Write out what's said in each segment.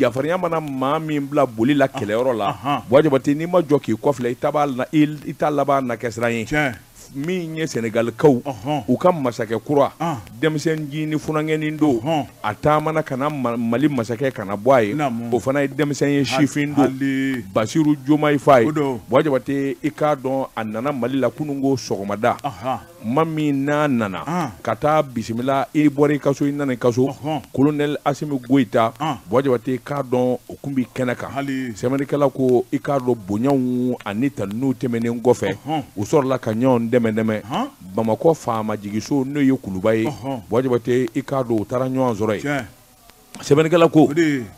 jafarinya mana maa min bila boli la kɛlɛyɔrɔ la buwa jabate n'i ma jɔ k'i kɔfilɛ i ta laban na kɛ siran ye min ye sɛnɛgalikaw u ka masakɛ kura denmisɛn jini funankɛnin don a taamana ka na mali masakɛ ka na bɔ a ye o fana ye denmisɛn ye sifin don basiru jomayi faye buwa jabate i k'a dɔn a nana mali la kununko sɔgɔmada ma min n'a nana ah. ka taa bisimila i bɔra i ka so i nana i ka so kolonɛli asimi goyita ah. buwa jabate i k'a dɔn o kun bi kɛnɛ kan sɛbɛnnikɛla ko i k'a dɔn bonyaw ani tanuniw tɛmɛnen kɔfɛ u sɔrɔla ka ɲɔgɔn dɛmɛ dɛmɛ bamakɔ faama jigiso n'o ye kuluba ye buwa jabate i k'a dɔn u taara ɲɔgɔn sɔrɔ yen sɛbɛnnikɛla ko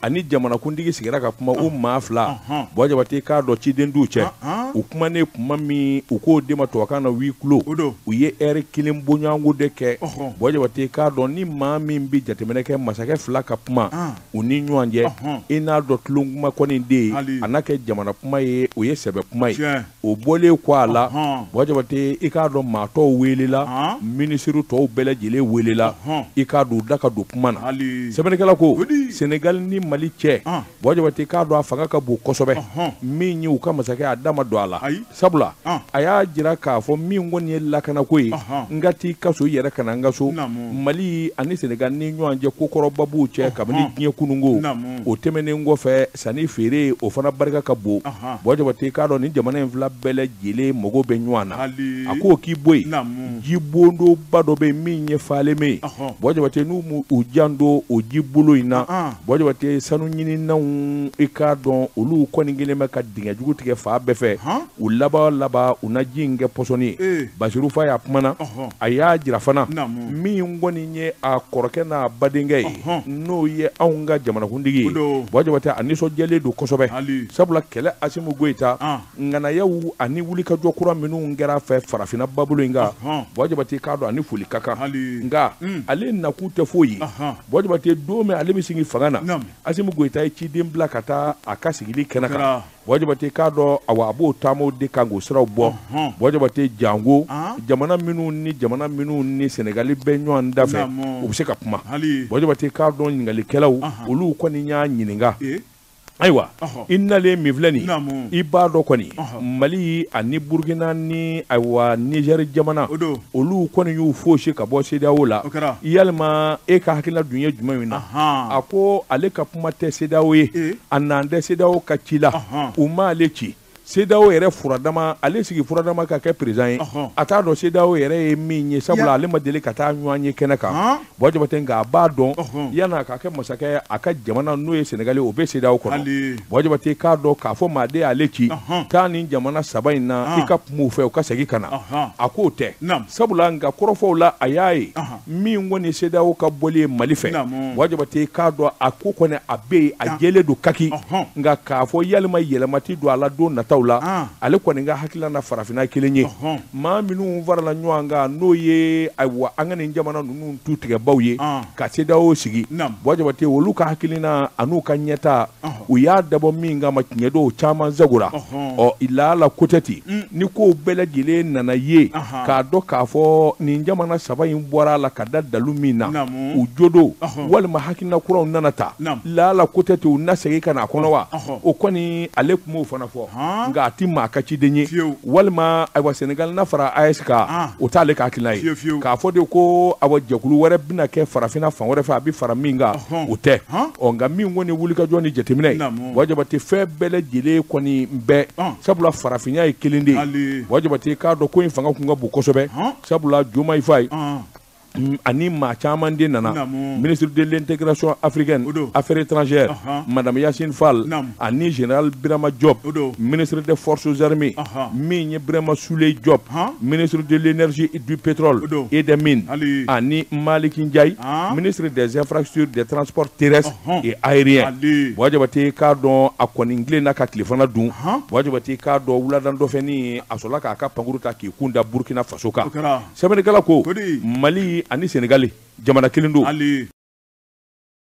a ni jamanakuntigi sigira ka kuma u maa fila buwa jabate k'a dɔn ciden t'u cɛ u kumanen kuma min u k'o de ma tubabukan na huis clos u ye ɛri kelen bɔɲɔgɔnko de kɛ buwa jabate k'a dɔn ni maa min bɛ jateminɛ kɛ masakɛ fila ka kuma u ni ɲɔgɔn cɛ i n'a dɔn tulon kuma kɔni tɛ yen a na kɛ jamana kuma ye o ye sɛbɛ kuma ye o bɔlen kɔ a la Buwa Jabate i k'a dɔn maa tɔw weelela minisiri tɔw bɛɛ lajɛlen weelela i k'a dɔn u da ka don kuma na sɛbɛnnikɛla ko Senegali ni Mali cɛ Buwa Jabate i k'a dɔn a fanga ka bon kosɛbɛ min ye u ka masakɛ a da ma don a la sabula a y'a jira k'a fɔ min kɔni ye lakanako ye n ka t'i ka so i yɛrɛ ka na n ka so Mali ani Senegali ni ɲɔgɔn cɛ kokɔrɔba b'u cɛ kabini diɲɛ kununko o tɛmɛnen kɔfɛ sannifeere o fana barika ka bon buwa jabate i k'a dɔn ni jamana in fila bɛɛ lajɛlen mago bɛ ɲɔgɔn na a ko k'i bɔ yen ji boloba dɔ bɛ min ye falemɛ ye buwa jabate n'u u janto o ji bolo in na buwa jabate sanu ɲininaw i k'a dɔn olu kɔni kɛlen bɛ ka dingɛ jugu tigɛ fan bɛɛ fɛ u laban laban u na ji in kɛ pɔsɔni ye eh. basiru faye a kumana a y'a jira fana min kɔni ye a kɔrɔkɛ n'a badenkɛ ye n'o ye anw ka jamanakuntigi ye buwa jabate a nisɔndiyalen don kosɛbɛ sabula kɛlɛ asimi goyita ah. ŋanayaw ani wulikajɔ kura minnu kɛra a fɛ farafinna babolo in kan buwa jabate k'a dɔn a ni foli ka kan nka hmm. ale nakun tɛ foyi ye buwa jabate don min ale bɛ sigi fanga na asimi goyita ye ciden bila ka taa a ka sigili kɛnɛ kan buwa jabate k'a dɔn awa a b'o taamaw de kan k'o siraw bɔ buwa jabate jango jamana minnu ni jamana minnu ni sɛnɛgali bɛ ɲɔgɔn da fɛ u bɛ se ka kuma buwa jabate k'a dɔn ɲininkalikɛlaw olu kɔni y'a ɲininka e? ayiwa i nalen min filɛ nin i b'a dɔn kɔni mali ani burukina ni ayiwa nizɛri jamana olu kɔni y'u foosi ka bɔ sedeyawo la yalima e ka hakilina dun ye jumɛn in na a ko ale ka kuma tɛ CEDEAO ye ee a nan tɛ CEDEAO ka ci la Ɔhɔn. u m'ale ci CEDEAO yɛrɛ furadama ale sigi furadama ka kɛ président ye Ɔhɔn. a t'a dɔn CEDEAO yɛrɛ ye min ye Ya. sabula ale ma deli ka taa ɲɔgɔnye kɛnɛ kan Han. Buwa Jabate nka a b'a dɔn Ɔhɔn. yan'a ka kɛ masakɛ ye a ka jamana n'o ye Sénégal ye o bɛ CEDEAO kɔnɔ Hali. Buwa Jabate k'a dɔn k'a fɔ maa de y'ale ci Ɔhɔn. taa nin jamana saba in na Han. i ka kuma u fɛ u ka segin ka na Ɔhɔn. a k'o tɛ Naam. sabula a ka kɔrɔfɔw la a y'a ye Ɔhɔn. min kɔni CEDEAO ka bɔli ye mali fɛ Buwa Jabate k'a dɔn a ko kɔni a bɛ yen a jɛlen don kaki nka k'a fɔ yalima yɛlɛma ti don a la don nataw la ah. ale kɔni ka hakilina na farafinna kelen ye maa minnu farala ɲɔgɔn kan n'o ye ayiwa an ka nin jamana ninnu tutigɛbaw ye ah. ka CEDEAO sigi Buwa Jabate olu ka hakilina an'u ka ɲɛtaa u y'a dabɔ min kama tiɲɛ don caman zagora ɔ laala kotɛti mm. ni ko bɛɛ lajɛlen nana ye k'a dɔn k'a fɔ nin jamana saba in bɔra a la ka da dalu min na u jo don walima hakilina kuraw nana ta laala kotɛti u na segin ka na a kɔnɔ wa o kɔni ale tun b'o fana fɔ nka a tɛ maa ka ciden ye walima ayiwa senegali na fara AES kan o t'ale ka hakilina ye k'a fɔ de ko awa jɛkulu wɛrɛ bɛna kɛ farafinna fan wɛrɛ fɛ a bɛ fara min kan o tɛ ɔ nka min kɔni wulikajɔ ni jateminɛ ye Buwa Jabate fɛn bɛɛ lajɛlen kɔni bɛ yen sabula farafinna ye kelen de ye Buwa Jabate k'a dɔn ko in fanga tun ka bon kosɛbɛ sabula Diomaye Faye ani maa caman de nana ministre de l'intégration africaine affaires étrangères madame Yacine Fall ani général Birama Diop ministre des forces armées min ye Birama Souleye Diop ministre de l'énergie et du pétrole et des mines ani Maliki Ndiaye ministre des infrastructures des transports terrestres et aériens Buwa Jabate k'a dɔn a kɔni tilenna ka tilefana dun Buwa Jabate k'a dɔn wulada dɔ fɛ ni a sɔrɔla k'a ka pankurun ta k'i kun da burukina faso kan sɛbɛnnikɛla ko mali ani senegali jamana kelen don